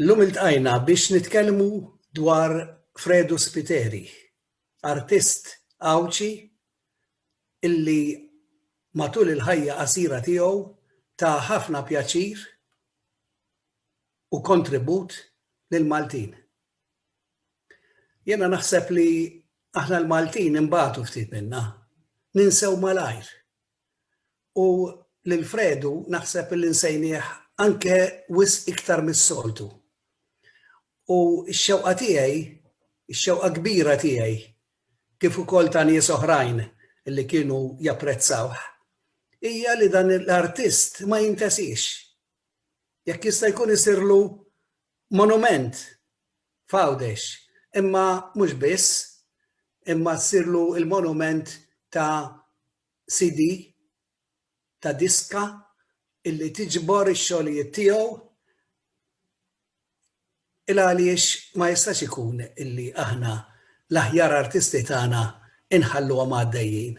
Illum iltqajna biex nitkellmu dwar Fredu Spiteri, artist Għawdxi illi matul il-ħajja qasira tiegħu ta ħafna pjaċir u kontribut lill-Maltin. Jiena naħseb li aħna l-Maltin inbatu ftit minna, ninsew malajr u lil Fredu naħseb illi nsejnieh anke wisq iktar mis-soltu. U x-xewqa tiegħi, x-xewqa kbira tiegħi, kif ukoll ta' nies oħrajn li kienu japprezzawh, hija li dan l-artist ma jintesiex. Jekk jista' jkun isirlu monument f'Għawdex, imma mhux biss, imma ssirlu l-monument ta' CD ta' diska illi tiġbor ix-xogħlijiet tiegħu il għaliex ma jistax ikun illi aħna l-aħjar artisti tagħna inħalluhom għaddejjin.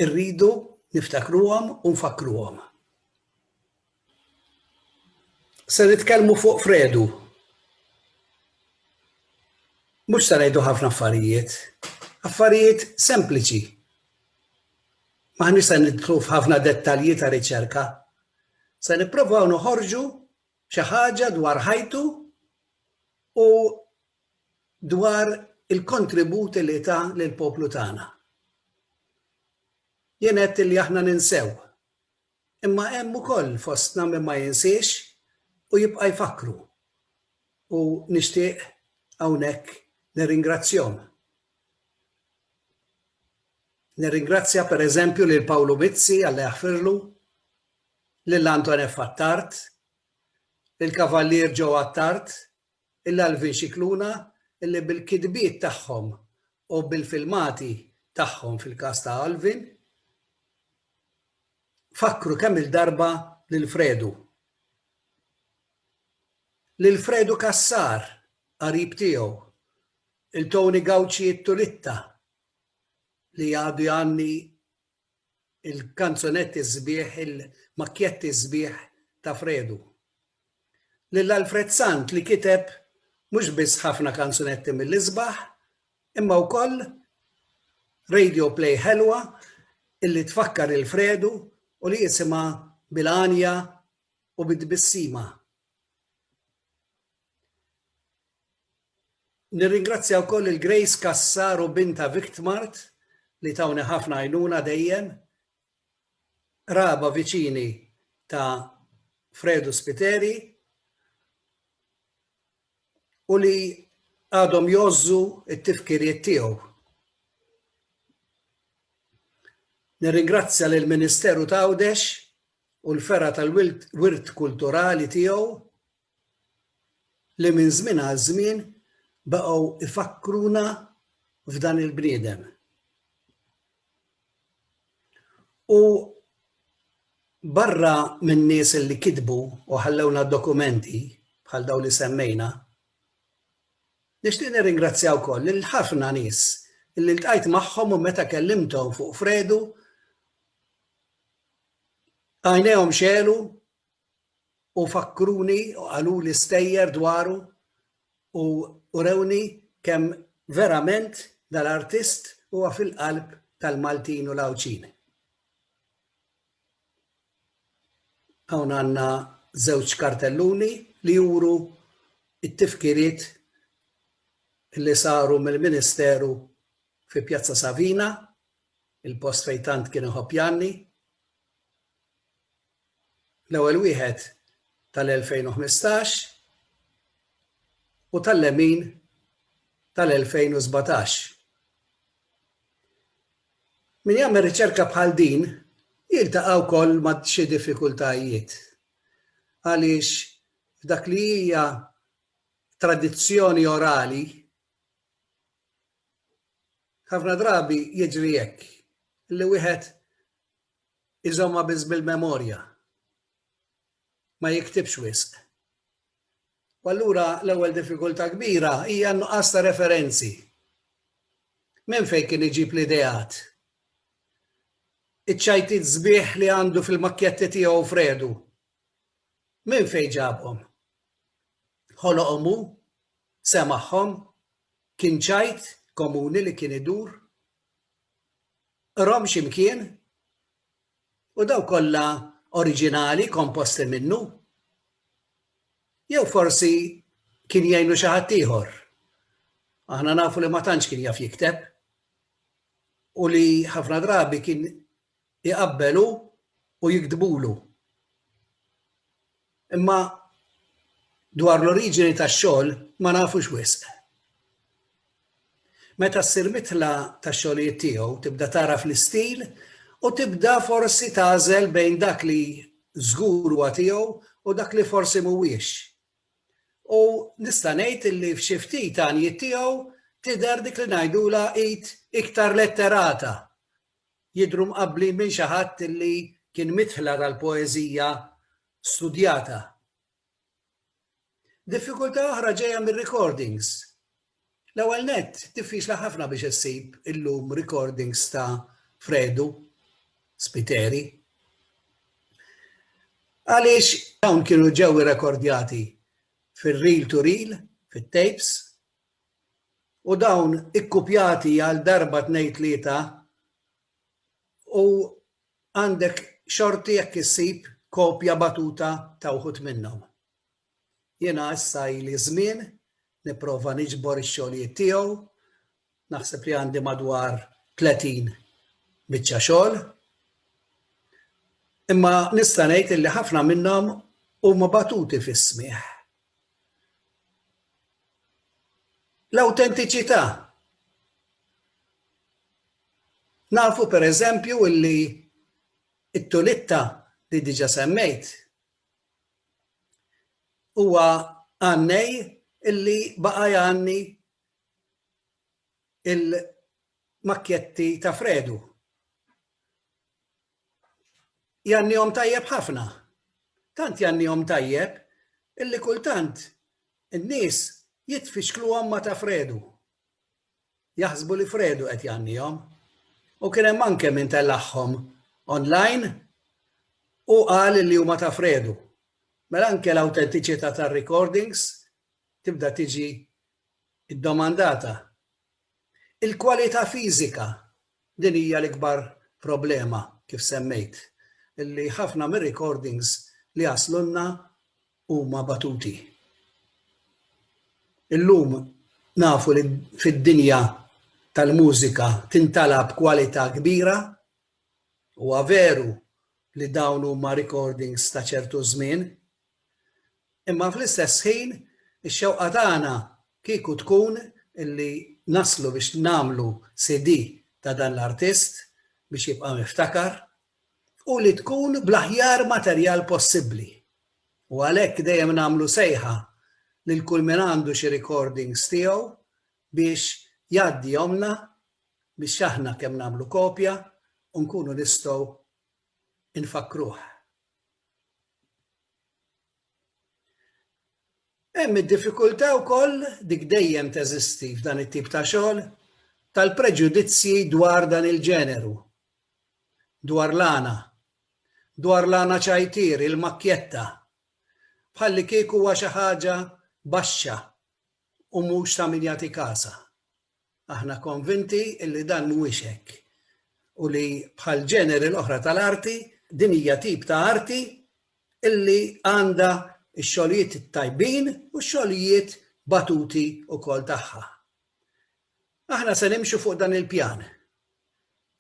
Irridu niftakruhom u nfakkruhom. Se nitkellmu fuq Fredu. Mhux se ngħidu ħafna affarijiet, affarijiet sempliċi. M'aħniex se nidħlu f'ħafna dettalji ta' riċerka. Se nipprovaw noħorġu xi ħaġa dwar ħajtu u dwar il-kontributi li ta' lill-poplu tagħna. Jien għedt li aħna ninsew Imma hemm ukoll fostna min ma jinsiex u jibqa' jfakkru. U nixtieq hawnhekk nirringrazzjahom. Nirringrazzja per eżempju lil Pawlu Mizzi, Alla jaħfirlu, lil Anton F. Attard, lill-Kavallier Joe Attard, Il-Alvin Scicluna li bil-kitbiet tagħhom u bil-filmati tagħhom fil-każ ta' Alvin, fakkru kemm-il darba lil Fredu. Lil Fredu Cassar, qarib tiegħu, lil Tony Gauci Itturitta li għadu jgħanni il-kanzunetti sbieħ, il-makkjetti sbieħ ta' Fredu. Lil Alfred Sant li kiteb mhux biss ħafna kanzunetti mill-isbaħ, imma wkoll radio play ħelwa illi tfakkar lil Fredu u li jisimha bil-għanja u bit-tbissima. Nirringrazzja wkoll lil Grace Cassar u bintha Victmart li tawni ħafna għajnuna dejjem. Qraba viċini ta' Fredu Spiteri u li għadhom jgħożżu t-tifkiriet tiegħu. Nirringrazzja lill-Ministeru t'Għawdex u l-Fergħa tal-Wirt Kulturali tiegħu li minn żmien għal żmien baqgħu jfakkruna f'dan il-bniedem. U barra minn nies li kitbu u ħallewna dokumenti bħal daw li semmejna, nixtieq nirringrazzja wkoll lil ħafna nies li ltqajt magħhom u meta kellimthom fuq Fredu għajnejhom xelu u fakkruni u qaluli stejjer dwaru u urewni kemm verament dal-artist huwa fil-qalb tal-Maltin u l-Għawdxin. Hawn għandna żewġ kartelluni li juru t-tifkiriet li saru mill-Ministeru fi Pjazza Savina, il-post fejn tant kien iħobb Janni. l-ewwel wieħed tal-2015 u tal-lemin tal-2017. Min jagħmel riċerka bħal din jiltaqa' wkoll ma' xi diffikultajiet għaliex f'dak li hija tradizzjoni orali ħafna drabi jiġri hekk li wieħed Iżommha biss bil-memorja. Ma jiktibx wisq. U allura l-ewwel diffikultà kbira hija n-nuqqas ta' referenzi. Minn fejn kien iġib l-ideat? Iċ-ċajtiet sbieħ li għandu fil-makkjetti tiegħu f'Redu, minn fejn ġabhom? Ħoloqhom hu? Semagħhom? Kien ċajt komuni li kien idur? Qrom xi mkien, u dawk kollha oriġinali komposti minnu? Jew forsi kien jgħinu xi ħadd ieħor? Aħna nafu li ma tantx kien jaf jikteb u li ħafna drabi kien Iqabbel hu u jiktbulu. Imma dwar l-oriġini tax-xogħol ma nafux wisq. Meta ssir mitla tax-xogħlijiet tiegħu tibda tagħraf l-istil u tibda forsi tagħżel bejn dak li żgur huwa tiegħu u dak li forsi mhuwiex. U nista' ngħid li f'xi ftit għanjiet tiegħu tidher dik li ngħidulha id iktar letterata jidhru mqabblin minn xi ħadd li kien midħla tal-poeżija studjata. Diffikultà oħra ġejja mir-recordings. L-ewwel nett, diffiċli ħafna biex issib illum recordings ta' Fredu, Spiteri. Għaliex dawn kienu ġew irrekordjati fir-reel to reel, fit-tapes, u dawn ikkupjati għal darba tnejn tlieta u għandek xorti jekk issib kopja batuta ta' wħud minnhom. Jiena issa ili żmien nipprova niġbor ix-xogħlijiet tiegħu, naħseb li għandi madwar 30 biċċa xogħol, imma nista' ngħid illi ħafna minnhom huma batuti fis-smigħ. L-awtentiċità. Nafu pereżempju illi t-tulitta li diġà semmejt huwa għannej illi baqa' jgħanni l-makkjetti ta' Fredu. jannihom tajjeb ħafna. Tant jannihom tajjeb illi kultant in-nies jitfixkluhom ma' ta' Fredu. Jaħsbu li Fredu qed jgħannihom. U kien hemm anke min tellagħhom online u qal li huma ta' Fredu. Mela anke l-awtentiċità tar-recordings tibda tiġi Id-domandata, Il-kwalità fiżika, din hija l-ikbar problema, kif semmejt, li ħafna mir-recordings li jaslulna huma batuti. Illum nafu li fid-dinja tal-mużika tintalab kwalità kbira. Huwa veru li dawn huma recordings ta' ċertu żmien, Imma fl-istess ħin ix-xewqa tagħna kieku tkun li naslu biex nagħmlu CD ta' dan l-artist biex jibqa' miftakar u li tkun bl-aħjar materjal possibbli. U għalhekk dejjem nagħmlu sejħa lil kull min għandu xi recordings tiegħu biex jgħaddihomlna biex aħna kemm nagħmlu kopja u nkunu nistgħu nfakkruh. Hemm id-diffikultà wkoll, dik dejjem teżisti f'dan it-tip ta' xogħol, tal-preġudizzji dwar dan il-ġeneru, dwar l-għana, dwar l-għana ċajtier, il-makkjetta, bħallikieku huwa xi ħaġa baxxa u mhux ta' min jagħti kasha. Aħna konvinti li dan mhuwiex hekk u li bħall-ġeneri l-oħra tal-arti, din hija tip ta' arti li għandha x-xogħlijiet it-tajbin u x-xogħlijiet batuti wkoll tagħha. Aħna se nimxu fuq dan il-pjan.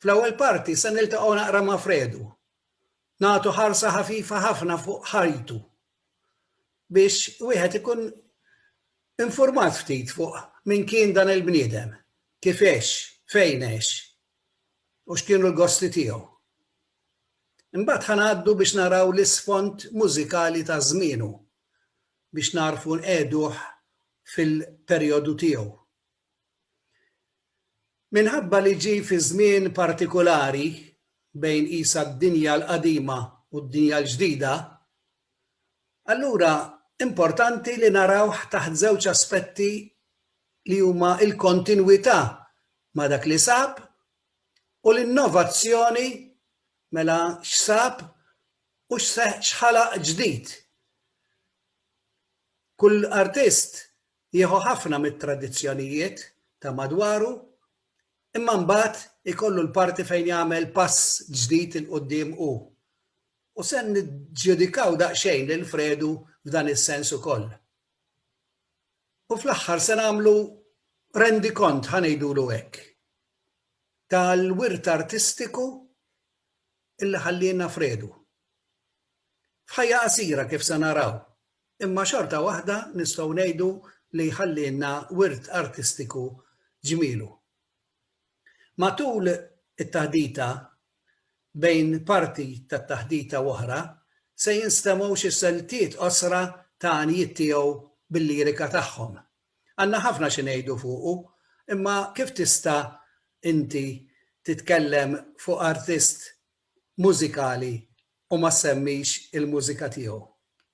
Fl-ewwel parti se niltaqgħu naqra ma' Fredu, nagħtu ħarsa ħafifa ħafna fuq ħajtu biex wieħed ikun informat ftit fuq min kien dan il-bniedem, kif għex, fejn għex u x'kienu l-gosti tiegħu. Imbagħad ħa ngħaddu biex naraw l-isfond mużikali ta' żmienu biex nagħrfu nqiegħduh fil-perjodu tiegħu. Minħabba li ġie fi żmien partikulari bejn qisha d-dinja l-qadima u d-dinja l-ġdida, allura importanti li narawh taħt żewġ aspetti li huma l-kontinwità ma' dak li sab u l-innovazzjoni, mela x'sab u x'ħalaq ġdid. Kull artist Jieħu ħafna mit-tradizzjonijiet ta' madwaru imma mbagħad ikollu l-parti fejn jagħmel pass ġdid 'il quddiem hu. U se niġġudikaw daqsxejn lil Fredu f'dan is-sens ukoll. U fl-aħħar se nagħmlu rendikont, ħa ngħidulu hekk, tal-wirt artistiku li ħallielna Fredu. F'ħajja qasira kif se naraw. Imma xorta waħda nistgħu ngħidu li jħallielna wirt artistiku ġmielu. Matul it-taħdita, bejn parti tat-taħdita u oħra, se jinstemgħu xi siltiet qosra ta' għanjiet tiegħu bil-lirika tagħhom. Għandna ħafna xi ngħidu fuqu, imma kif tista' inti titkellem fuq artist mużikali u ma ssemmix il-mużika tiegħu?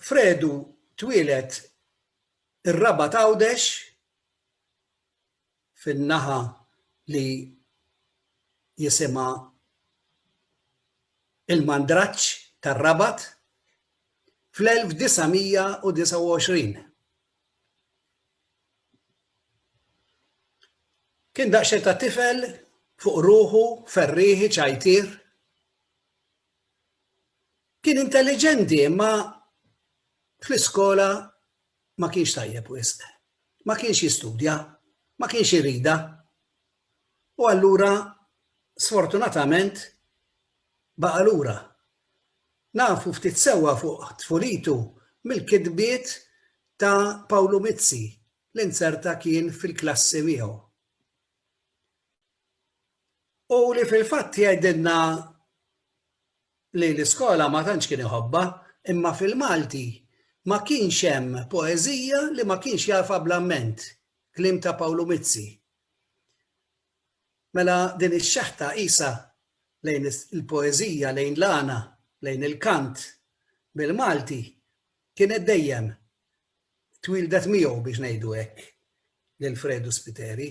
Fredu twieled ir-Rabat Għawdex fin-naħa li jisimha l-Mandraġġ tar-Rabat fl-1929. Kien daqsxejn ta' tifel fuq ruħu, ferrieħi, ċajtier. Kien intelliġenti imma fl-iskola ma kienx tajjeb wisq. Ma kienx jistudja, ma kienx iridha. U allura sfortunatament baqa' lura. Nafu ftit sewwa fuq tfulitu mill-kitbiet ta' Pawlu Mizzi li nzerta kien fil-klassi miegħu. U li fil-fatt jgħidilna li l-iskola ma tantx kien iħobbha, imma fil-Malti ma kienx hemm poeżija li ma kienx jafha bl-amment, kliem ta' Pawlu Mizzi. Mela din ix-xeħta qisha lejn il-poeżija, lejn l-għana, lejn il-kant bil-Malti kienet dejjem twieldet miegħu biex ngħidu hekk lil Fredu Spiteri.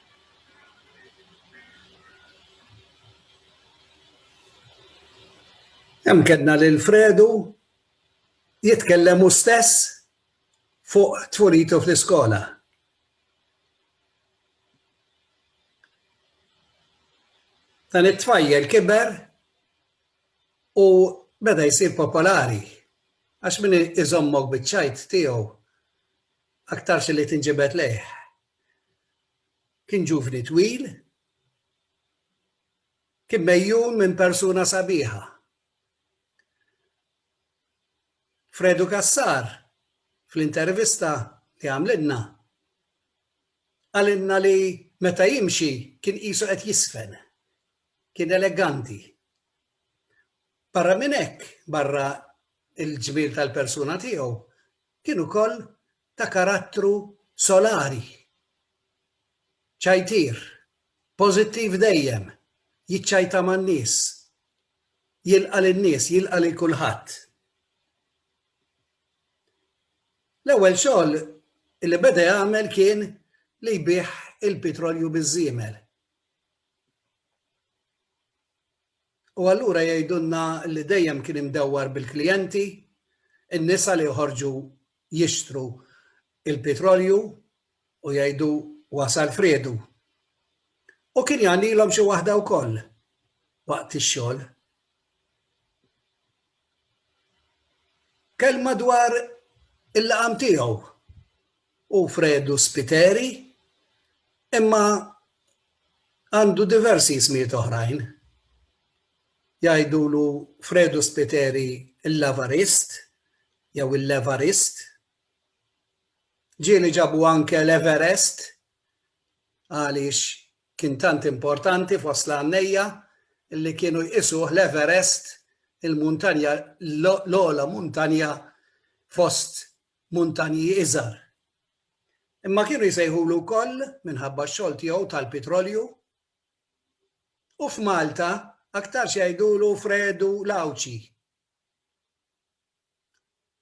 Hemm kedna lil Fredu jitkellem hu stess fuq tfuritu fl-iskola. Dan it-tfajjel kiber u beda jsir popolari għax min iżommok biċ-ċajt tiegħu aktarx li tinġibed lejh. Kien ġuvni twil. Kien megħjun minn persuna sabiħa. Fredu Cassar, fl-intervista li għamlilna, qalilna li meta jimxi kien qisu qed jiżfen. Kien eleganti. Barra minn hekk, barra l-ġmiel tal-persuna tiegħu, kien ukoll ta' karattru solari, ċajtier, pożittiv dejjem, jiċċajta man-nies, jilqa' lin-nies, jilqa' lil kulħadd. L-ewwel xogħol li beda jagħmel kien li jbigħ il-pitrolju biż-żiemel. U allura jgħidulna li dejjem kien imdewwar bil-klijenti, in-nisa li joħorġu jixtru l-pitrolju u jgħidu wasal friedu. U kien jagħnilhom xi waħda wkoll waqt ix-xogħol. Kelma dwar il-laqam tiegħu. u Fredu Spiteri, imma għandu diversi ismijiet oħrajn. Jgħidulu Fredu Spiteri l-Lavarist jew il-Levarist. Ġieli ġabu anke l-Everest għaliex kien tant importanti fost l-għannejja li kienu jqisuh l-Everest il-muntanja l-ogħla muntanja fost Muntanji Iżgħar. Imma kienu jsejħulu wkoll, minħabba x-xogħol tiegħu tal-pitrolju, u f'Malta aktarx jgħidulu Fredu l-Għawdxi.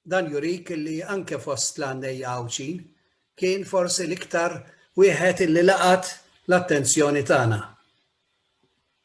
Dan jurik li anke fost l-għandejja Għawdxin kien forsi l-iktar wieħed li laqat l-attenzjoni tagħna.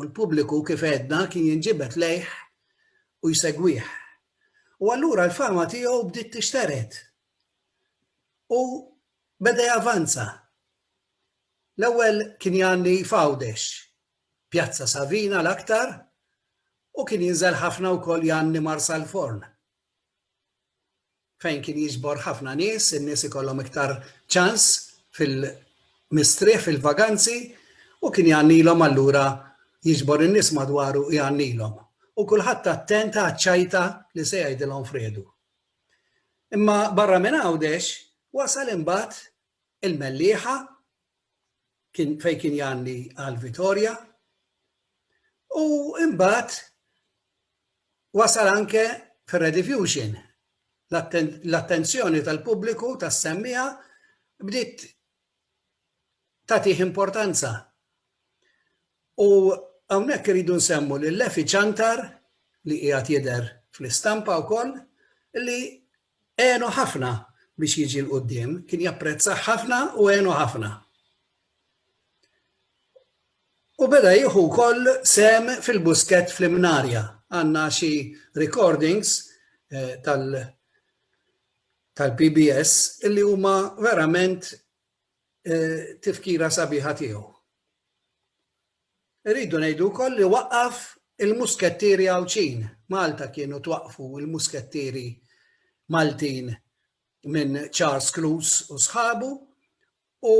U l-pubbliku kif għedna kien jinġibed lejh u jsegwih. U allura l-fama tiegħu bdiet tixtered. U beda javanza. L-ewwel kien jgħanni f'Għawdex, Pjazza Savina l-aktar, u kien jinżel ħafna wkoll jgħanni Marsalforn, fejn kien jiġbor ħafna nies, in-nies ikollhom iktar ċans fil-mistrieħ fil-vaganzi u kien jgħannilhom allura jiġbor in-nies madwaru jgħannilhom. U kulħadd attent għaċ-ċajta li se jgħidilhom fredu. Imma barra minn Għawdex wasal imbagħad il-Mellieħa kien fejn kien jgħanni għal Vitorja u imbagħad Wasal anke fir-Rediffusion. L-attenzjoni tal-pubbliku tas-semmiegħa bdiet tagħtih importanza. U hawnhekk irridu nsemmu lil Lefi Ciantar li qiegħed jidher fl-istampa wkoll li għenu ħafna biex jiġi l-qudiem, kien japprezzah ħafna u għenu ħafna. U beda jieħu wkoll sem fil-busket fl-imnarja. Għandna xi recordings eh, tal- tal-PBS illi huma verament eh, tifkira sabiħa tiegħu. Irridu ngħidu wkoll li waqqaf il-Muskettieri Għawdxin. Malta kienu twaqqfu l-Muskettieri Maltin minn Charles Cloos u sħabu u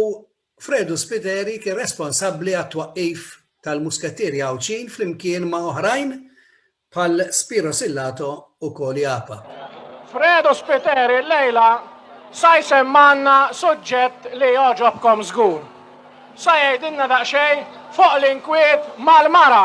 Fredu Spiteri kien responsabbli għat-twaqqif tal-Muskettieri Għawdxin flimkien ma' oħrajn Bħal Spiro Sillato u Koli Apa. Fredo Spiteri llejla sa jsemmgħalna suġġett li jogħġobkom żgur. Sa jgħidilna daqsxejn fuq l-inkwiet mal-mara.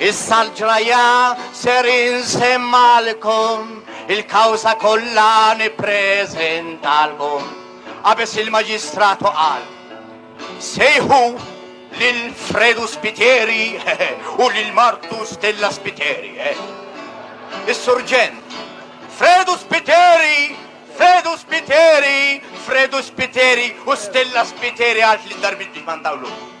Issa l-ġrajja ser insemmalkom, il-kawża kollha nippreżentalkom. Qabeż il-Maġistratu qal, sejħu lil Fredu Spiteri u lil Martu Stella Spiteri. Eh. Is-surġent, Fredu Spiteri, Fredu Spiteri, Fredu Spiteri u Stella Spiteri għalt li darbit biex mandawlu.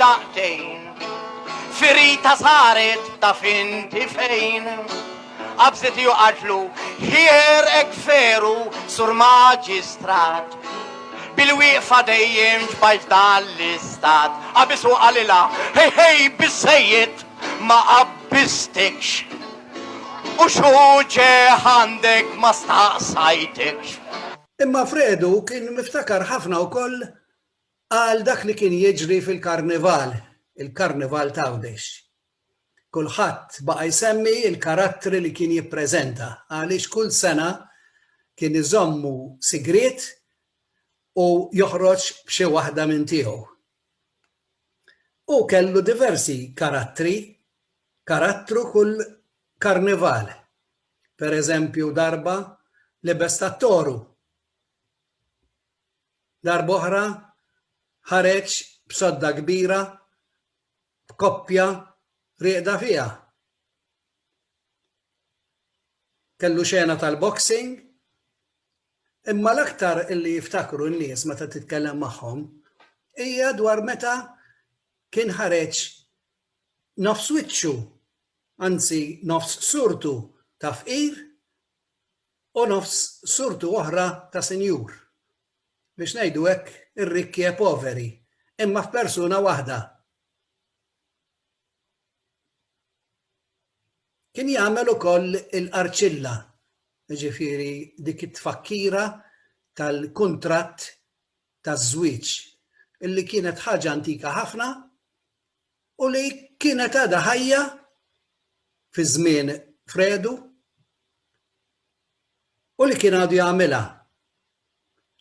daqtejn Firita saret taf inti fejn Qabżet hi u qaltlu Ħier hekk veru Sur Maġistrat Bil-wieqfa dejjem ġbajt f'dan l-istat Qabiż u qalilha Hej hej biżżejjed ma qabbistikx U x'hu ġe għandek ma staqsajtikx. Imma Fredu kien miftakar ħafna wkoll Għal dak li kien jiġri fil-Karnival, il-Karnival t'Għawdex. Kulħadd baqa' jsemmi l-karattri li kien jippreżenta għaliex kull sena kien iżommu sigriet u joħroġ b'xi waħda minn tiegħu. Hu kellu diversi karattri, karattru kull Karnival. Pereżempju darba lebes tat-toru. darb'oħra ħareġ b'sodda kbira b'koppja rieqda fiha. Kellu xena tal-boxing, imma l-aktar li jiftakru n-nies meta titkellem magħhom hija dwar meta kien ħareġ nofs wiċċu, anzi nofs surtu ta' fqir, u nofs surtu oħra ta' sinjur, biex ngħidu hekk, ir-rikki e poveri, imma f'persuna waħda. Kien jagħmel ukoll il-qarċilla, jiġifieri dik it-tfakkira tal-kuntratt taż-żwieġ, illi kienet ħaġa antika ħafna, u li kienet għadha ħajja fi żmien Fredu u li kien għadu jagħmilha.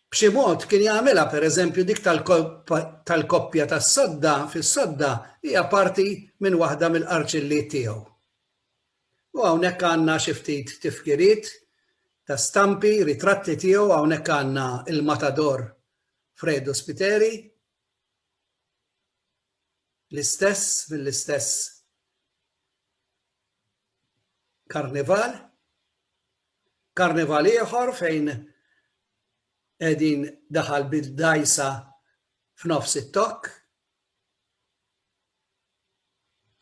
B'xi mod kien jagħmilha pereżempju dik tal-koppja tas-sodda fis-sodda hija parti minn waħda mill-qarċilliet tiegħu. U hawnhekk għandna xi ftit tifkiriet ta' stampi, ritratti tiegħu hawnhekk għandna il-matador Fredo Spiteri. L-istess mill-istess karnival, karnival ieħor fejn qegħdin daħal bil-dajsa f'nofs it-tokk.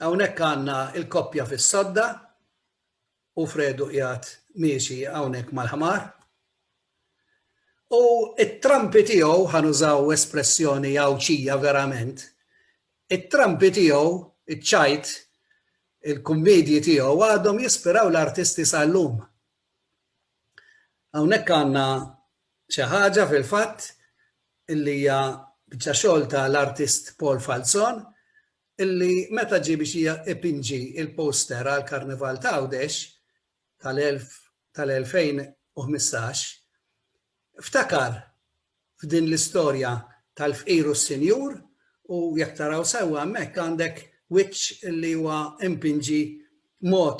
Hawnhekk għandna l-koppja fis-sodda, U Fredu qiegħed miexi hawnhekk mal-ħmar. U t-trampi tiegħu, ħa nużaw espressjoni Għawdxija verament, it-trampi tiegħu, iċ-ċajt, il-kummedji tiegħu għadhom jispiraw l-artisti sal-lum. Hawnhekk għandna xi ħaġa fil-fatt illi hija biċċa xogħol tal-artist Paul Falzon illi meta ġie biex ipinġi l-poster għall-Karnival t'Għawdex tal-2015, ftakar f'din l-istorja tal-fqir u s-sinjur u jekk taraw sewwa hemmhekk għandek wiċċ illi huwa impinġi mod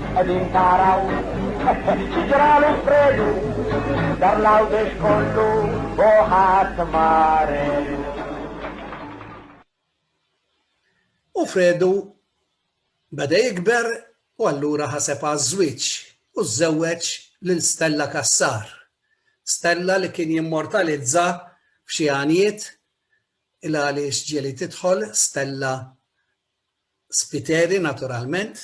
Qegħdin taraw xi ġralu fredu dar l-għawdex kollu u ħadd maredu. U Fredu beda jikber u allura ħaseb għaż-żwieġ u żżewweġ lil Stella Cassar. Stella li kien jimmortalizza f'xi għanjiet il għaliex ġieli tidħol Stella Spiteri naturalment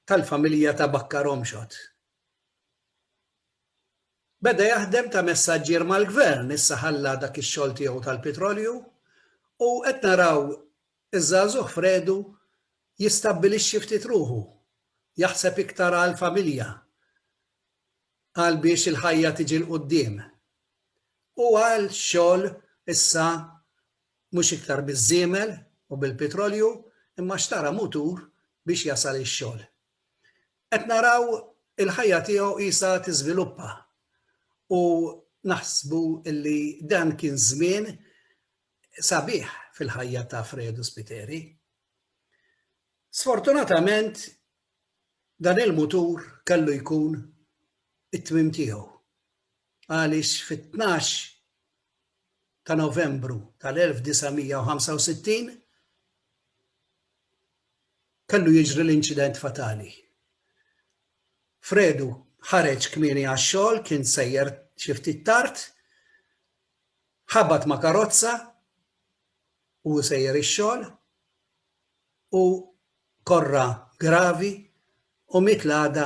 tal-familja ta' Bakkar Omxot. Beda jaħdem ta' messaġġier mal-Gvern, issa ħalla dak ix-xogħol tiegħu tal-pitrolju u qed naraw iż-żagħżugħ f'Redu jistabbilixxi ftit ruħu, jaħseb iktar għall-familja, għal biex il-ħajja tiġi 'l quddiem. U għal xogħol issa Mhux iktar biż-żiemel u bil-pitrolju imma xtara mutur biex jasal ix-xogħol. Qed naraw il-ħajja tiegħu qisha tiżviluppa u naħsbu li dan kien żmien sabiħ fil-ħajja ta' Fredu Spiteri. Sfortunatament dan il-mutur kellu jkun it-tmiem tiegħu għaliex fit-12 ta' Novembru tal-1965 kellu jiġri l-inċident fatali. Fredu ħareġ kmieni għax-xogħol, kien sejjer xi ftit tard, ħabat ma' karozza u sejjer ix-xogħol u korra gravi u miet l-għada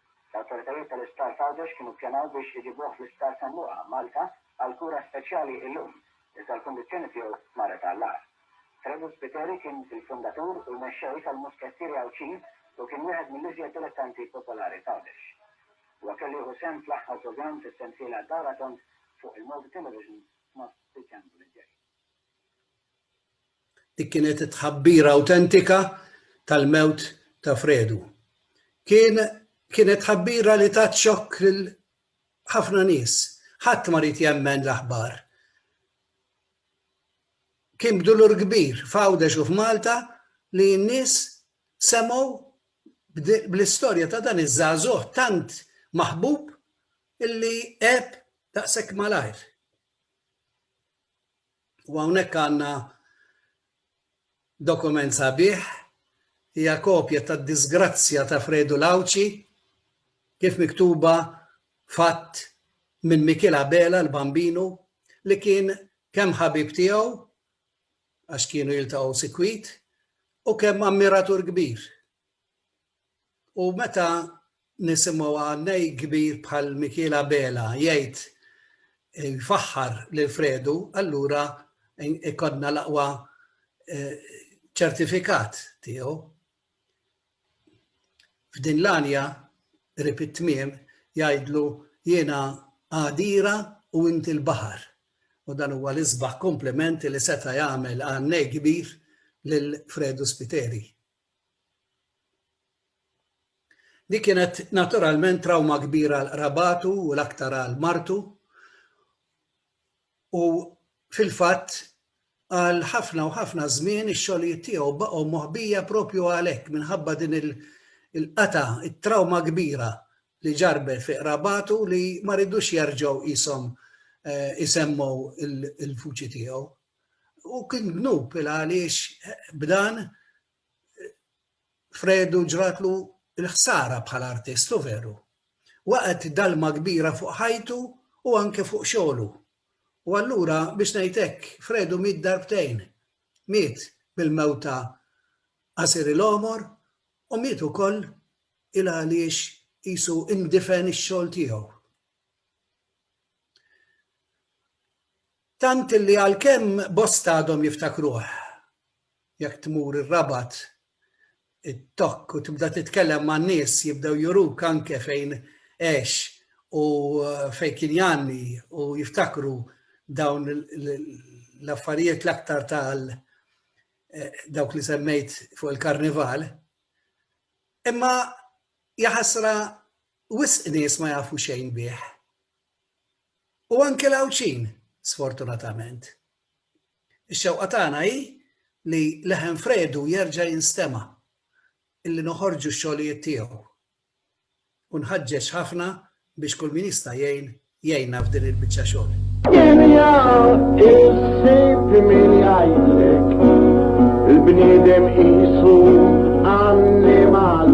L-awtoritajiet tal-Isptar f'Għawdex kienu ppjanaw biex iġibuh fl-Isptar San Luqa, Malta, għal kura speċjali illum, iżda l-kundizzjoni tiegħu marret għall-agħar. Fredu Spiteri kien il-fundatur u l-mexxej tal-Muskettieri Għawdxin u kien wieħed mill-iżjed dilettanti popolari f'Għawdex. Huwa kellu jieħu sehem fl-aħħar programm fis-sensiela Dawra Tond fuq il-Malta Television f'Nofs Diċembru li ġej. Dik kienet it-tħabbira awtentika tal-mewt ta' Fredu. Kien kienet tħabbira li tat xokk lil ħafna nies. Ħadd ma ried jemmen l-aħbar. Kien b'dulur kbir f'Għawdex u f'Malta li n-nies semgħu bl-istorja ta' dan iż-żagħżugħ tant maħbub illi għeb daqshekk malajr. U hawnhekk għandna dokument sabiħ, hija kopja tad-diżgrazzja ta' Fredu l-Għawdxi kif miktuba f'att minn Mikiel Abela l-Bambinu li kien kemm ħabib tiegħu għax kienu jiltaqgħu sikwit u kemm ammiratur kbir. U meta nisimgħu għannej kbir bħal Mikiel Abela jgħid jfaħħar lil Fredu, allura ikonna l-aqwa eh, ċertifikat tiegħu. F'din l-anja rib it-tmiem jgħidlu jiena għadira u inti l-baħar. U dan huwa l-isbaħ komplimenti li seta' jagħmel għannej kbir lil Fredu Spiteri. Dik kienet naturalment trawma kbira għal qrabatu u l-aktar għal martu u fil-fatt għal ħafna u ħafna żmien ix-xogħlijiet tiegħu baqgħu moħbija propju għalhekk minħabba din il-qata, it-trawma kbira li ġarbet fi qrabatu li ma ridux jerġgħu qishom eh, isemmu il-vuċi tiegħu. U kien dnub il għaliex b'dan Fredu ġratlu l-ħsara bħala artist, u veru. Waqgħet dalma kbira fuq ħajtu u anke fuq xogħlu. U allura biex ngħid hekk, Fredu miet darbtejn. Miet bil-mewta qasir il-għomor u miet ukoll il għaliex qisu indifen ix-xogħol tiegħu. Tant li għalkemm bosta għadhom jiftakruh, jekk tmur ir-Rabat, it-Tokk u tibda titkellem man-nies jibdew juruk anke fejn għex u fejn kien jgħanni u jiftakru dawn l-affarijiet l-aktar tal dawk li semmejt fuq il-Karnival. Imma jaħasra wisq nies ma jafu xejn bih. u anke l-Għawdxin, sfortunatament. Ix-xewqa tagħna hi li leħen Fredu jerġa' jinstema', illi noħorġu x-xogħlijiet tiegħu. U nħaġġeġ ħafna biex kull min jista' jgħin, jgħinna f'din il-biċċa xogħol. Dinja issib min jgħidlek, il-bniedem qisu annimal.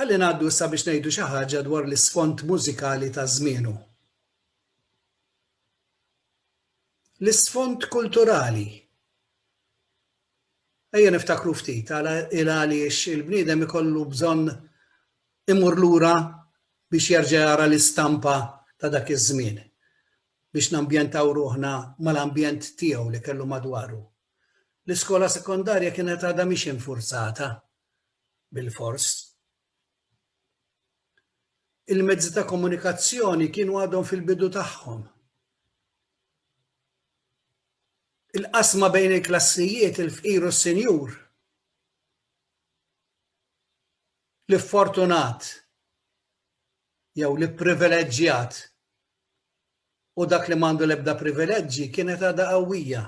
Ħalli ngħaddu issa biex ngħidu xi ħaġa dwar l-isfond mużikali ta' żmienu. L-isfond kulturali. Ejja niftakru ftit għala il għaliex il-bniedem ikollu bżonn imur lura biex jerġa' jara l-istampa ta' dak iż-żmien biex nambjentaw ruħna mal-ambjent tiegħu li kellu madwaru. L-iskola sekondarja kienet għadha mhix infurzata bilfors. Il-mezzi ta' komunikazzjoni kienu għadhom fil-bidu tagħhom. Il-qasma bejn il-klassijiet, il-fqir u s-sinjur, li fortunat jew li privileġġjat u dak li m'għandu l-ebda privileġġi kienet għadha qawwija.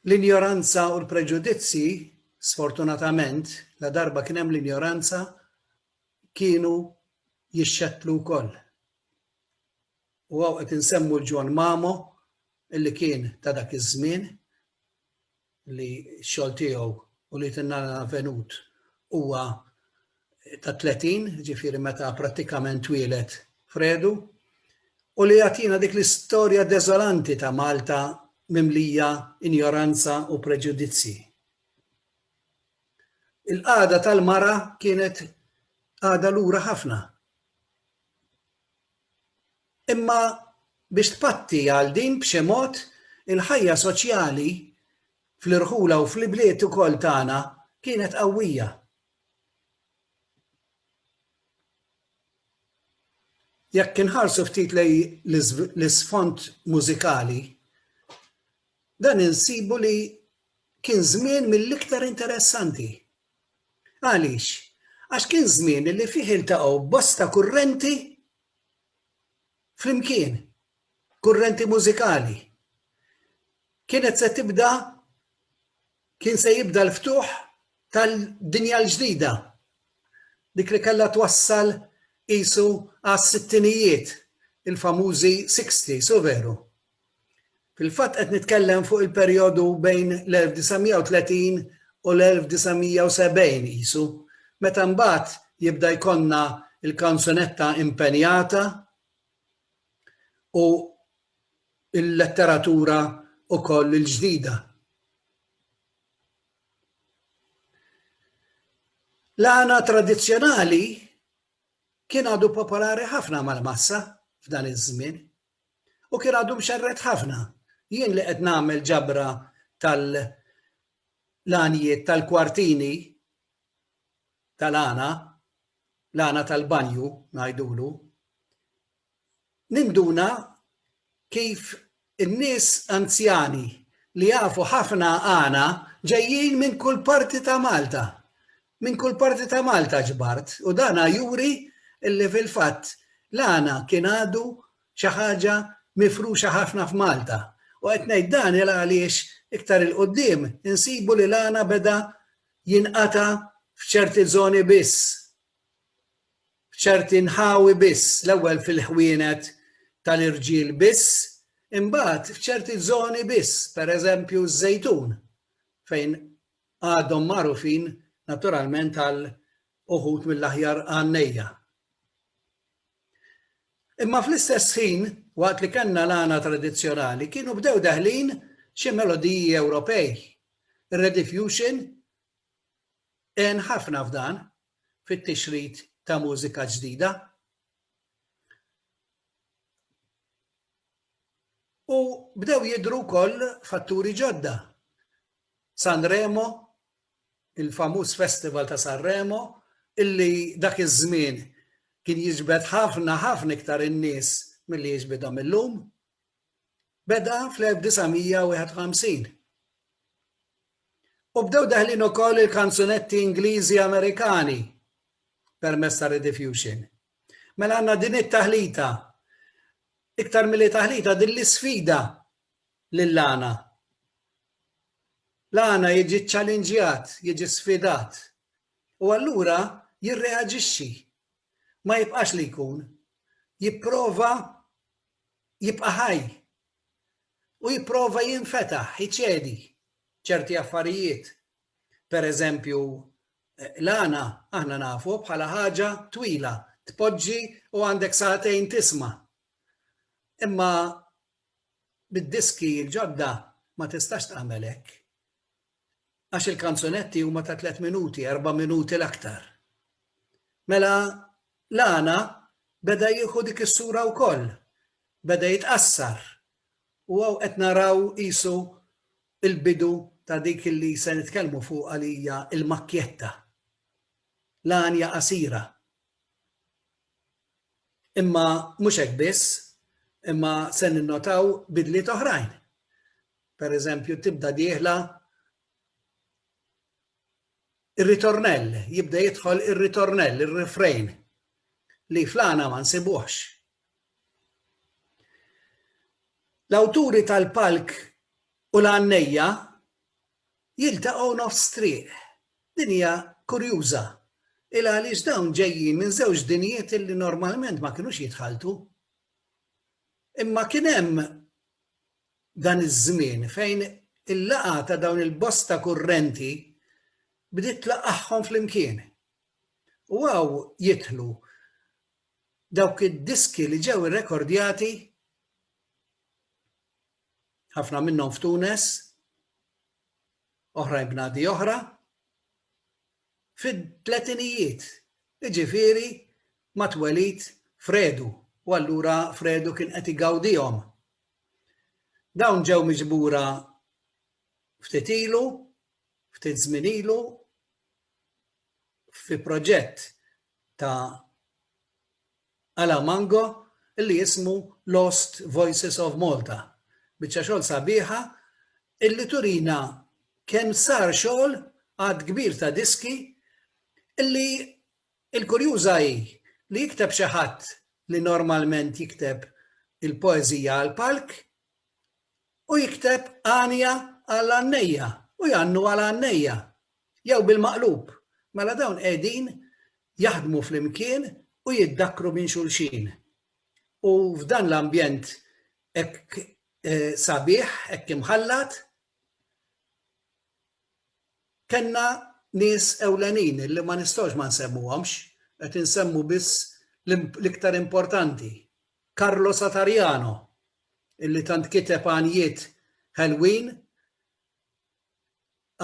L-injoranza u l-preġudizzji, sfortunatament, ladarba kien hemm l-injoranza, kienu jixxettlu wkoll. U hawn qed insemmu l-Ġwann Mamo, illi kien ta' dak iż-żmien, li xogħol tiegħu u li tinnana venut huwa ta' 30, ġifieri meta prattikament twielet Fredu, u li jagħtina dik l-istorja deżolanti ta' Malta mimlija injoranza u preġudizzji. Il-qagħda tal-mara kienet għada lura ħafna. Imma biex tpatti għal din b'xi mod, il-ħajja soċjali fl-irħula u fl-ibliet ukoll tagħna kienet qawwija. Jekk inħarsu ftit lejn l-isfond mużikali, dan insibu li kien żmien mill-iktar interessanti. Għaliex? Għax kien żmien li fih iltaqgħu bosta kurrenti flimkien, kurrenti mużikali. Kienet se tibda kien se jibda l-ftuħ tal-dinja l-ġdida, dik li kellha twassal qisu għas-sittinijiet, il-famużi sixties, u veru, Fil-fatt qed nitkellem fuq il-perjodu bejn l-1930 u l-1970 qisu, meta mbagħad jibda jkollna l-kanzunetta impenjata u l-letteratura wkoll il-ġdida. L-għana tradizzjonali kien għadu popolari ħafna mal-massa f'dan iż-żmien, U kien għadu mxerred ħafna. Jien li qed nagħmel ġabra tal l-għanjiet tal-kwartini tal-għana, l-għana tal-banju ngħidulu, ninduna kif in-nies anzjani li jafu ħafna għana ġejjin minn kull parti ta' Malta. Minn kull parti ta' Malta ġbart u dan juri li fil-fatt l-għana kien għadu xi ħaġa mifruxa ħafna f'Malta. U qed ngħid dan il għaliex iktar 'il quddiem insibu li l-għana beda jinqata' f'ċerti żoni biss, f'ċerti nħawi biss, l-ewwel fil-ħwienet tal-irġiel biss, imbagħad f'ċerti żoni biss, pereżempju ż-Żejtun fejn għadhom magħrufin naturalment għal uħud mill-aħjar għannejja. Imma fl-istess ħin, waqt li kellna l-għana tradizzjonali, kienu bdew daħlin xi melodiji Ewropej. Rediffusion en ħafna f'dan fit-tixrid ta' mużika ġdida. U bdew jidru wkoll fatturi ġodda San Remo, il-famuż festival ta' San Remo, illi dak iż-żmien kien jiġbed ħafna ħafna iktar in-nies milli jiġbidhom illum, beda fl-1951. U bdew daħlin ukoll il-kanzunetti Ingliżi Amerikani permezz ta' Rediffusion. Mela għandna din it-taħlita, iktar milli taħlita din l-isfida lil Lana. Lana jiġi ċċalinġjat, jiġi sfidat, u allura jirreaġixxi. Ma jibqax li jkun. Jipprova jibqa' ħaj. U jipprova jinfetaħ, iċedi ċerti affarijiet. Per eżempju, Lana aħna nafu bħala ħaġa twila, tpoġġi u għandek sagħtejn tisma'. Imma Bid-diski l-ġodda ma tistax tagħmel hekk. Għax il-kanzunetti huma ta' tliet minuti, erba' minuti l-aktar. Mela Lana beda jieħu dik is-sura wkoll. Beda jitqassar. U hawn qed naraw qisu l-bidu ta' dik li se nitkellmu fuqha li hija l-makkjetta. L-għanja qasira. Imma mhux hekk biss, imma se ninnotaw bidliet oħrajn. Per eżempju, tibda dieħla ir-ritornell, jibda jidħol ir-ritornell, ir-refrain, li flana ma nsibuħx. L-awturi tal-palk u l-għannejja Jiltaqgħu nofs triq. Din hija kurjuża. Il għaliex dawn ġejjin minn żewġ dinjiet illi normalment ma kinux jitħalltu. Imma kien hemm dan iż-żmien fejn il-laqgħa ta' dawn il-bosta kurrenti bdiet tlaqqagħhom flimkien. U hawn jidħlu dawk id-diski li ġew irrekordjati ħafna minnhom f'Tunes, oħrajn bnadi oħra, fit-tletinijiet, jiġifieri mat-twelid Fredu, u allura Fredu kien qed igawdihom. Dawn ġew miġbura ftit ilu, ftit żmien ilu, fi proġett ta' Ala Mango li jismu Lost Voices of Malta. Biċċa xogħol sabiħa illi turina kemm sar xogħol għadd kbir ta' diski illi l-kurjuża hi li jikteb xi ħadd li normalment jikteb il-poeżija għall-palk u jikteb għanja għall-għannejja u jgħannu għal għannejja Jew bil-maqlub, mela dawn qegħdin jaħdmu flimkien u jiddakkru minn xulxin. U f'dan l-ambjent hekk sabiħ, hekk imħallat, kellna nies ewlenin li ma nistgħux ma nsemmuhomx, qed insemmu biss l-iktar importanti. Carlo Satariano, illi tant kiteb għanjiet ħelwin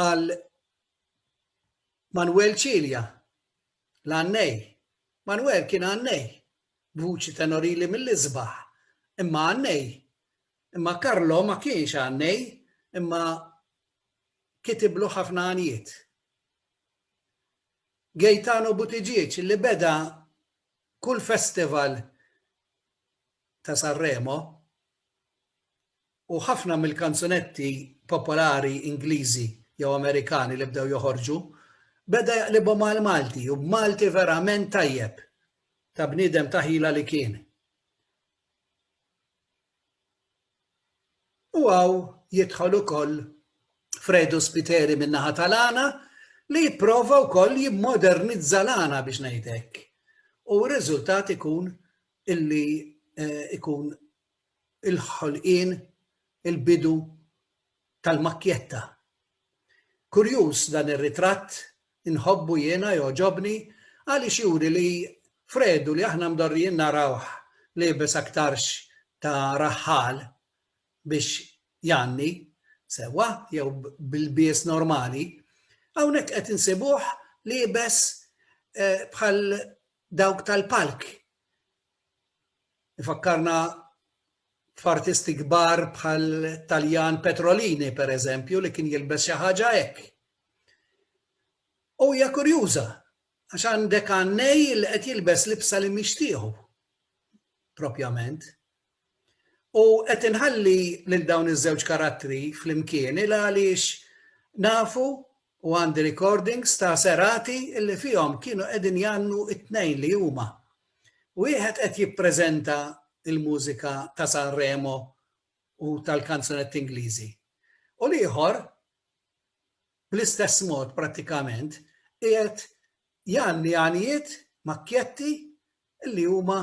għal Manuel Cilia, l-għannej. Manuel kien għannej, b'vuċi tenorili mill-isbaħ, imma għannej. Imma Karlo ma kienx għannej, imma kitiblu ħafna għanijiet. Gaetano Butiġieċ li beda kull festival ta' Sanremo u ħafna mill-kanzunetti popolari Ingliżi jew Amerikani li bdew joħorġu, beda jaqlibhom għall-Malti u b'Malti verament tajjeb, ta' bniedem ta' ħila li kien. U hawn jidħol ukoll Fredu Spiteri min-naħa tal-għana li jipprova wkoll jimmodernizza l-għana biex ngħid hekk. U r-riżultat ikun illi ikun il-ħolqien, il-bidu tal-makkjetta. Kurjuż dan ir-ritratt, inħobbu jiena, jogħġobni, għaliex juri li Fredu li aħna mdorrijin narawh liebes aktarx ta' raħħal biex jgħanni, sewwa, jew b'ilbies normali, hawnhekk qed insibuh liebes bħal dawk tal-palk, Ifakkarna f'artisti kbar bħal Taljan Petrolini, per eżempju, li kien jilbes xi ħaġa hekk. U hija kurjuża, għax għandek għannej li qed jilbes libsa li mixtieħu, propjament. U qed inħalli lil dawn iż-żewġ karattri flimkien il għaliex nafu U għandi recordings ta' serati li fihom kienu qegħdin jgħannu t-tnejn li huma. Wieħed qed jippreżenta l-mużika ta' Sanremo u tal-kanzunetti Ingliżi u l-ieħor bl-istess mod prattikament qiegħed jgħanni għanijiet, makkjetti li huma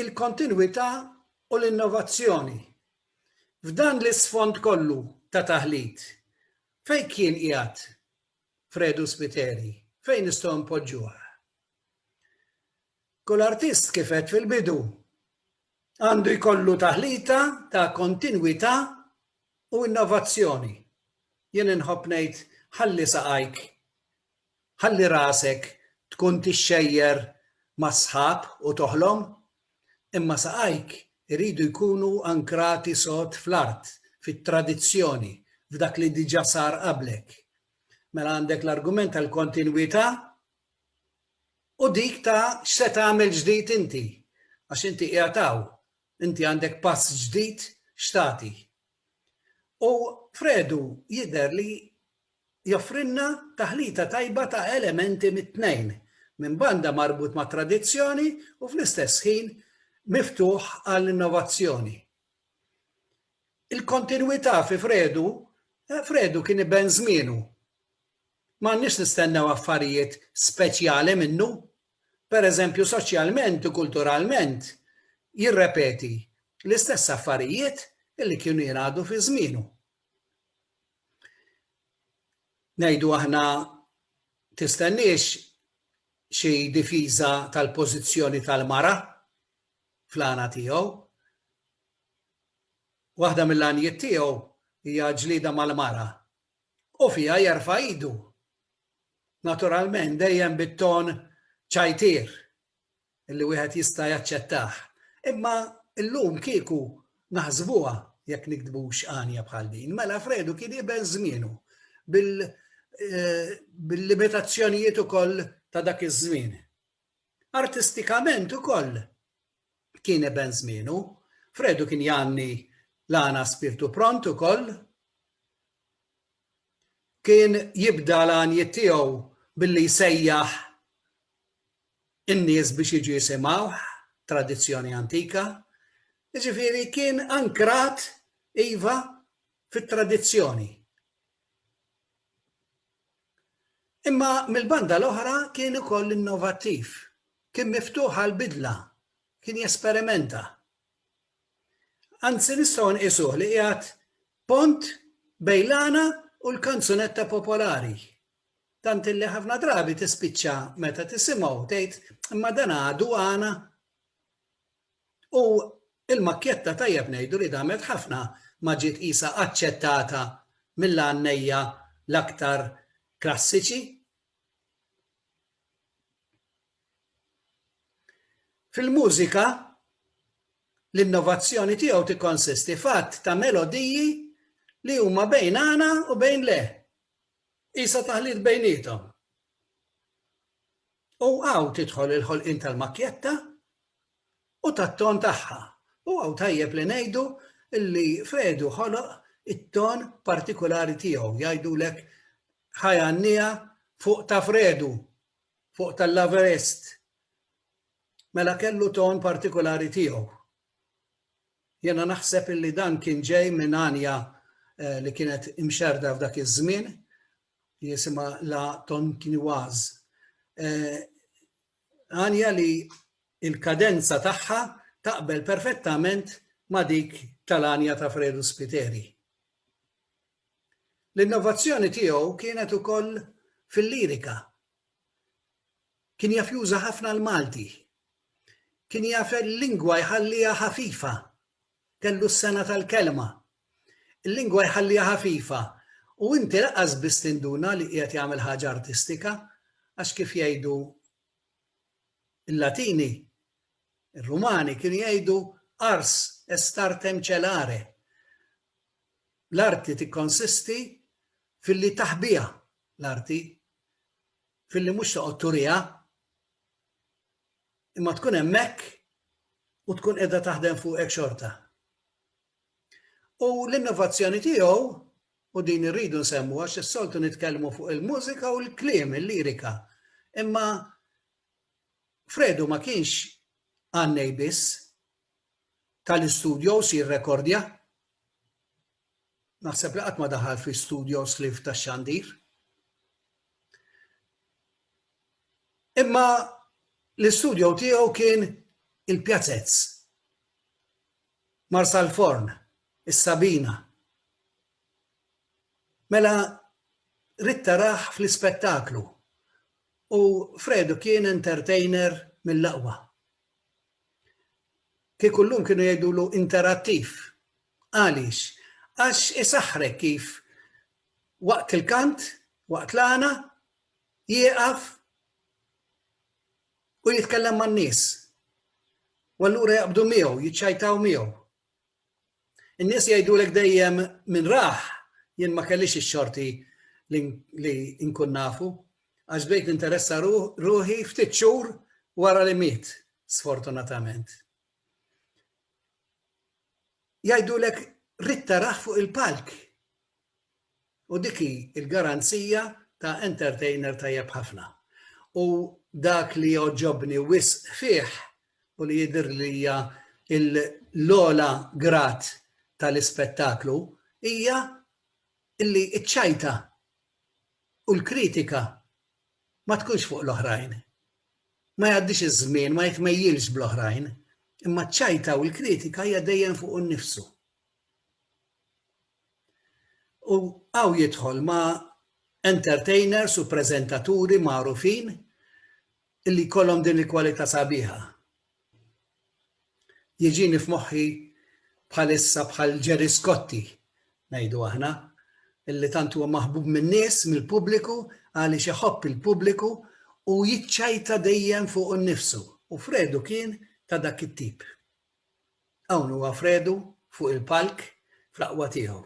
il-kontinwità u l-innovazzjoni. F'dan l-isfond kollu ta' taħlit, fejn kien qiegħed Fredu Spiteri? Fejn nistgħu npoġġuh? Kull artist kif għedt fil-bidu għandu jkollu taħlita ta' kontinwità u innovazzjoni. Jien inħobb ngħid ħalli saqajk Ħalli rasek tkun tixxejjer mas-sħab u toħlom, imma saqajk iridu jkunu ankrati sod fl-art, fit-tradizzjoni, f'dak li diġà sar qablek. Mela għandek l-argument tal-kontinwità u dik ta' x'se tagħmel ġdid inti, għax inti qiegħed hawn, inti għandek pass ġdid x'tagħti. U Fredu jidher li joffrilna taħlita tajba ta' elementi mit-tnejn, minn banda marbut mat-tradizzjoni u fl-istess ħin miftuħ għall-innovazzjoni. Il-kontinwità fi Fredu, Fredu kien iben żmienu. M'għandniex nistennew affarijiet speċjali minnu pereżempju soċjalment u kulturalment, jirrepeti l-istess affarijiet li kienu jingħadu fi żmienu. Ngħidu aħna tistenniex xi difiża tal-pożizzjoni tal-mara fl-għana tiegħu. Waħda mill-għanijiet tiegħu hija ġlieda mal-mara u fiha jerfa' idu, naturalment dejjem bit-ton ċajtier li wieħed jista' jaċċettah. Imma llum kieku naħsbuha jekk niktbux għanja bħal din, mela Fredu kien iben żmienu bil-limitazzjonijiet ukoll ta' dak iż-żmien. Artistikament ukoll kien eben żmienu. Fredu kien janni l-għana spirtu pront ukoll. Kien jibda l-għanjiet tiegħu billi jsejjaħ in-nies biex jiġu jisimgħuh, tradizzjoni antika. Jiġifieri kien ankrat iva fit-tradizzjoni. Imma mill-banda l-oħra kien ukoll innovattiv, kien miftuħ għall-bidla, kien jesperimenta. Anzi nistgħu nqisuh li qiegħed pont bejn l-għana u l-kanzunetta popolari. Tant illi ħafna drabi tispiċċa meta tisimgħu tgħid imma dan għadu għana? U l-makkjetta tajjeb ngħidu li damet ħafna ma ġiet qisha aċċettata mill-għannejja l-aktar klassiċi. Fil-mużika, l-innovazzjoni tiegħu tikkonsisti f'għadd ta' melodiji li huma bejn għana u bejn le. Qisha taħlit bejniethom. U hawn tidħol il-ħolqien tal-makkjetta u tat-ton tagħha. U hawn tajjeb li ngħidu li Fedu ħoloq it-ton partikulari tiegħu, jgħidulek ħaj għannija fuq ta' Fredu, fuq tal-Laverest. Mela kellu ton partikulari tiegħu. Jiena naħseb illi dan kien ġej minn għanja li kienet imxerrda f'dak iż-żmien li jisimha La Tonkinoise. Għanja li l-kadenza tagħha taqbel perfettament ma' dik tal-għanja ta' Fredu Spiteri. L-innovazzjoni tiegħu kienet ukoll fil-lirika. Kien jaf juża ħafna l-Malti. Kien jaf il-lingwa jħalliha ħafifa. Kellu s-sengħa tal-kelma. Il-lingwa jħalliha ħafifa u inti lanqas biss tinduna li qiegħed jagħmel ħaġa artistika għax kif jgħidu l-Latini, ir-Rumani kienu jgħidu ars est artem celare. L-arti tikkonsisti filli taħbiha l-arti filli mhux toqgħod turiha, imma tkun hemmhekk u tkun qiegħda taħdem fuqek xorta. U l-innovazzjoni tiegħu u din irridu nsemmu għax is-soltu nitkellmu fuq il-mużika u l-kliem, il-lirika. Imma Fredu ma kienx għannej biss tal-istudio si rekordja Naħseb li qatt ma daħal fi studio slif tax-xandir. Imma l-istudio tiegħu kien il-Pjazez, Marsalforn, is-Sabina. Mela ridt taraħ fl-ispettaklu u Fredu kien entertainer mill-aqwa. Kieku llum kienu jgħidulu interattiv. Għaliex? Għax isaħħrek kif waqt il-kant, waqt l-għana, jieqaf u jitkellem man-nies. U allura jaqbdu miegħu, jiċċajtaw miegħu. In-nies jgħidulek dejjem min rah, jien ma kellix ix-xorti li nkun nafu, għax bdejt ninteressa ruħi ftit xhur wara li miet, sfortunatament. Jgħidulek rid taraħ fuq il-palk. U dik hi l-garanzija ta' entertainer tajjeb ħafna. U dak li jogħġobni wisq fih u li jidhirli li hija l-ogħla grad tal-ispettaklu hija li ċ-ċajta u l-kritika ma tkunx fuq l-oħrajn. Ma jgħaddix iż-żmien, ma jitmejjilx bl-oħrajn, imma ċ-ċajta u l-kritika hija dejjem fuqu nnifsu. U hawn jidħol ma' entertainers u preżentaturi magħrufin li jkollhom din il-kwalità sabiħa. Jiġini f'moħħi bħalissa bħal Gerry Scotti, ngħidu aħna, li tant huwa maħbub min-nies, mill-pubbliku, għaliex iħobb il-pubbliku u jiċċajta dejjem fuqu nnifsu, u Fredu kien ta' dak it-tip. Hawn huwa Fredu fuq il-palk fl-aqwa tiegħu.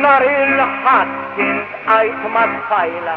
Nhar il-Ħadd intqajt mat-tfajla.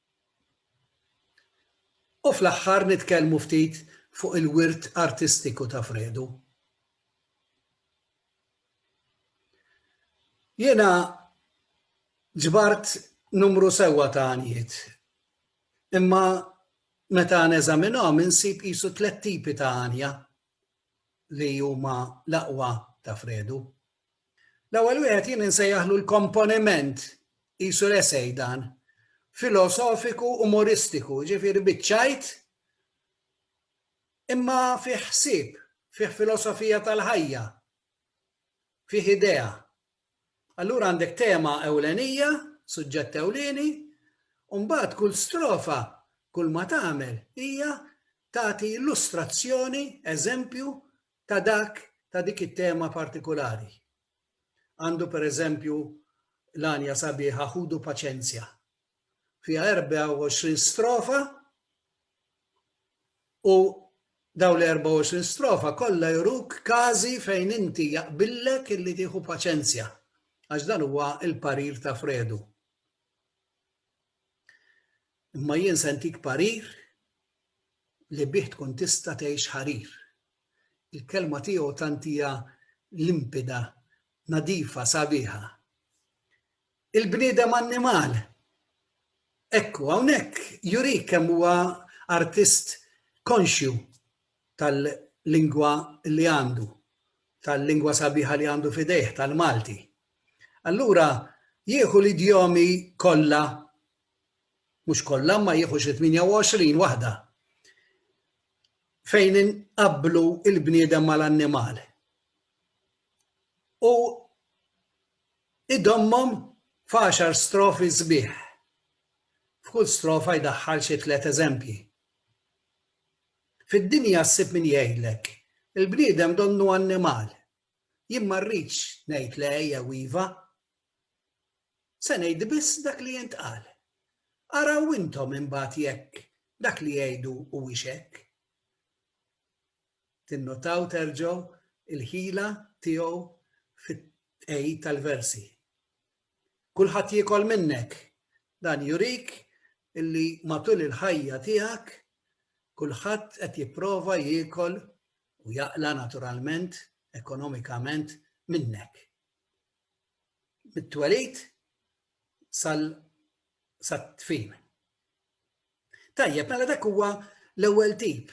U fl-aħħar nitkellmu ftit fuq il-wirt artistiku ta' Fredu. Jiena ġbart numru sewwa ta' għanjiet, imma meta neżaminhom insib qisu tliet tipi ta' għanja li huma l-aqwa ta' Fredu. L-ewwel wieħed jien insejjaħlu l-komponiment qisu l-esej dan filosofiku umoristiku, ġifieri biċċajt imma fih ħsieb, fih filosofija tal-ħajja, fih idea. Allura għandek tema ewlenija, suġġett ewlieni, u mbagħad kull strofa, kull ma tagħmel hija tagħti illustrazzjoni, eżempju ta' dak ta' dik it-tema partikulari. Għandu per eżempju l-għanja sabiħa Ħudu Paċenzja. Fiha 24 strofa u daw li 24 strofa kollha juruk każi fejn inti jaqbillek illi tieħu paċenzja għax dan huwa l-parir ta' Fredu. Imma jien se ntik parir li bih tkun tista' tgħix ħarir. Il-kelma tiegħu tant hija limpida, nadifa, sabiħa. Il-bniedem annimal. Ekku, hawnhekk jurik kemm huwa artist konxju tal-lingwa li għandu, tal-lingwa sabiħa li għandu fidejh, tal-Malti. Allura jieħu l-idjomi kollha, mhux kollha ma jieħu xi 28 waħda, fejn inqabblu il-bniedem mal-annimal. U idommhom f'għaxar strofi sbieħ. F'kull strofa jdaħħal xi tliet eżempji. Fid-dinja ssib min jgħidlek, il-bniedem donnu annimal, Jien ma rridx ngħid le jew iva. Se ngħid biss dak li jintqal. Araw intom imbagħad jekk dak li jgħidu huwiex hekk. Tinnotaw terġgħu l-ħila tiegħu fit-tqegħid tal-versi. Kulħadd jiekol minnek. Dan jurik illi matul il-ħajja tiegħek kulħadd qed jipprova jiekol u jaqla' naturalment, ekonomikament, minnek. Mit-twelid sat-tfin. Tajjeb, mela dak huwa l-ewwel tip.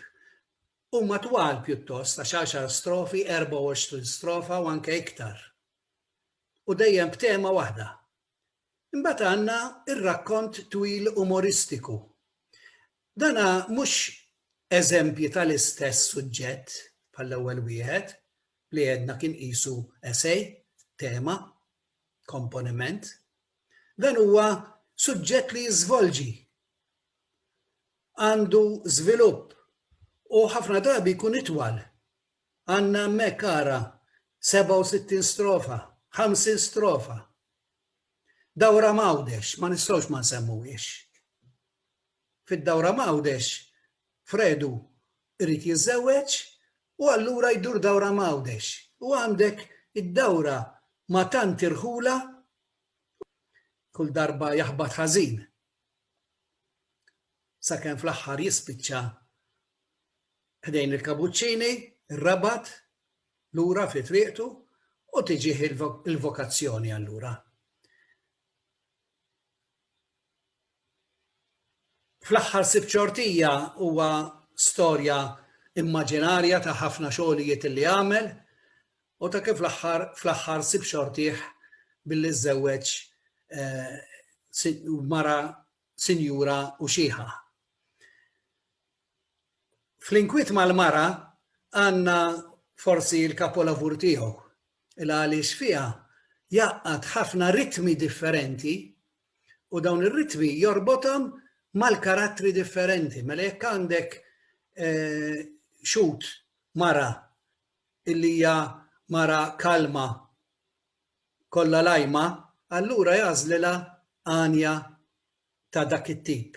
Huma twal pjuttost għax għaxar strofi, 24 strofa u anke iktar. U dejjem b'tema waħda. Imbagħad għandna r-rakkont twil umoristiku. Dan hu mhux eżempji tal-istess suġġett bħall-ewwel wieħed, li għedna kien qisu essay, tema, komponiment. Dan huwa suġġett li jiżvolġi, għandu żvilupp u ħafna drabi jkun itwal. Għandna hemmhekk ara 67 strofa, 50 strofa. Dawra m'Għawdex ma nistgħux ma nsemmuhiex. Fid-dawra m'Għawdex Fredu jrid jiżżewweġ u allura jdur dawra m'Għawdex u għandek id-dawra ma' tant irħula kull darba jaħbat ħażin sakemm fl-aħħar jispiċċa ħdejn il-Kabuċċini, ir-Rabat, lura fi triqtu u tiġih il-vokazzjoni allura. Fl-aħħar Sibt Xortija huwa storja immaġinarja ta' ħafna xogħlijiet li għamel u ta' kif l-aħħar fl-aħħar Sibt Xortih billi żżewweġ eh, mara sinjura u xieħa. Fl-inkwiet mal-mara għandna forsi l-kapolavur tiegħu il għaliex fiha jgħaqqad ħafna ritmi differenti u dawn ir-ritmi jorbothom mal-karattri differenti. Mela jekk għandek eh, xut mara illi hija mara kalma kollha lajma, allura jażlilha għanja ta' dak it-tip.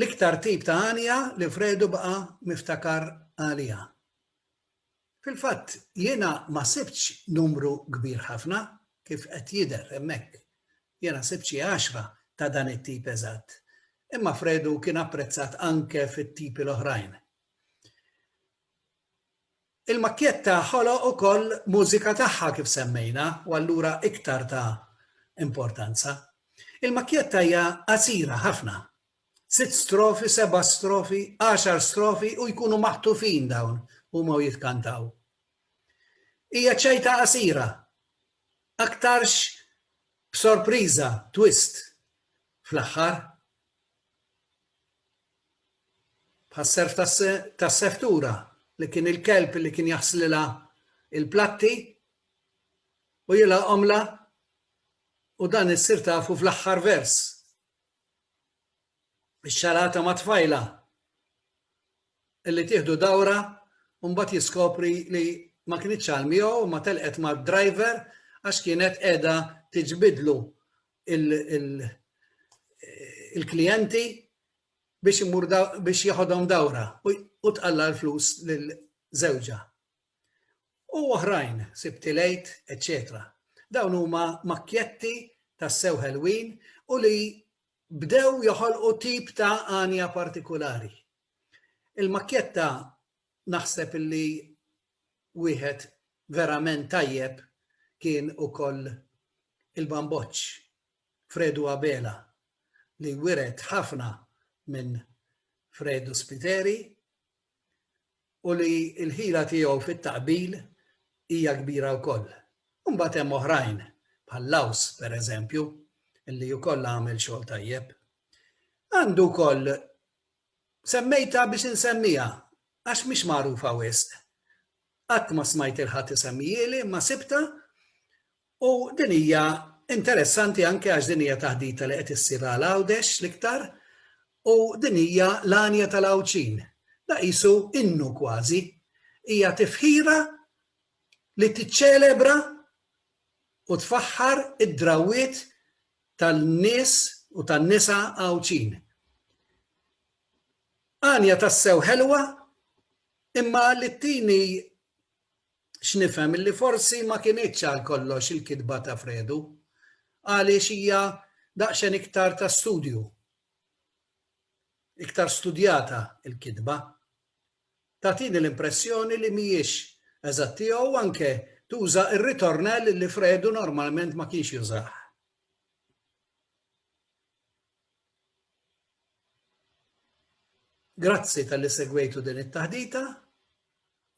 L-iktar tip ta' għanja li Fredu baqa' miftakar għaliha. Fil-fatt, jiena ma sibtx numru kbir ħafna, kif qed jidher hemmhekk. Jiena sibt xi għaxra ta' dan it-tip eżatt. Imma Fredu kien apprezzat anke fit-tipi l-oħrajn. Il-makkjetta ħoloq ukoll mużika tagħha kif semmejna u allura iktar ta' importanza. Il-makkjetta hija qasira ħafna. Sitt strofi, seba' strofi, għaxar strofi u jkunu maħtufin dawn huma u jitkantaw. Hija ċajta qasira, aktarx b'sorpriża, twist, fl-aħħar. Bħas-serf tas-servtura li kien il-kelb li kien jaħslilha il-platti u jilgħaqhomla u dan issir tafu fl-aħħar vers. Ix-xarata ma' tfajla illi tieħdu dawra u mbagħad jiskopri li ma kienitx għal miegħu ma telqet mad-driver għax kienet qiegħda tiġbidlu il-klijenti biex imur biex jaħodhom dawra u tqalla l-flus lil żewġha. U oħrajn, sibti lejt, eċċetera. Dawn huma makkjetti tas-sew ħelwin u li bdew joħolqu tip ta' għanja partikulari. Il-makkjetta Naħseb illi wieħed verament tajjeb kien ukoll il-bamboċċ Fredu Abela li wiret ħafna minn Fredu Spiteri u li l-ħila tiegħu fit-taqbil hija kbira wkoll. U mbagħad hemm oħrajn bħal Laws pereżempju illi wkoll għamel xogħol tajjeb. Għandu wkoll Semmejtha biex insemmiha, għax mhix magħrufa wisq. Qatt ma smajt lil ħadd isemmihieli imma sibtha u din hija interessanti anke għax din hija taħdita li qed issir għal Għawdex l-iktar u din hija l-għanja tal-Għawdxin. Da qisu innu kważi. Hija tifħira li tiċċelebra u tfaħħar id-drawwiet tan-nies u tan-nisa Għawdxin. Għanja tassew ħelwa imma Littini x'nifhem illi forsi ma kinitx għal kollox il-kitba ta' Fredu għaliex hija daqsxejn iktar ta' studju. Iktar studjata l-kitba. tagħtini l-impressjoni li mhijiex eżattija u anke tuża r-ritornell li Fredu normalment ma kienx jużah. Grazzi talli segwejtu din it-taħdita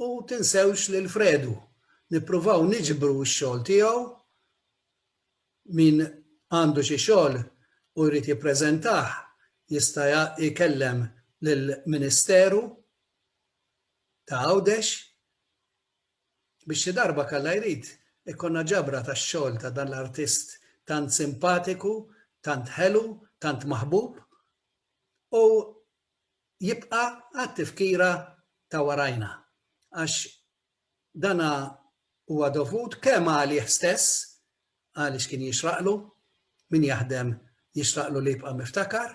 u tinsewx lil Fredu. Nippruvaw niġbru x-xogħol tiegħu Min għandu xi xogħol u jrid jippreżentah jista' jkellem lill-Ministeru ta' Għawdex biex xi darba kalla jrid ikollna ġabra tax-xogħol ta' dan l-artist tant simpatiku, tant ħelu, tant maħbub u jibqa' għat-tifkira ta' warajna għax Dana huwa dovut kemm għalih stess għaliex kien jixraqlu, min jaħdem jixraqlu li jibqa' miftakar,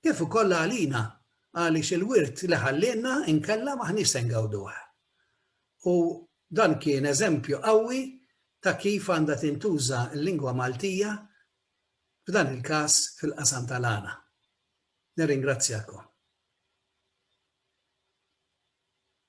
kif ukoll għalina għaliex il-wirt li ħallielna inkella m'aħniex se ngawduh. U dan kien eżempju qawwi ta' kif għandha tintuża l-lingwa Maltija f'dan il-każ fil-qasam tal-għana. Nirringrazzjakom.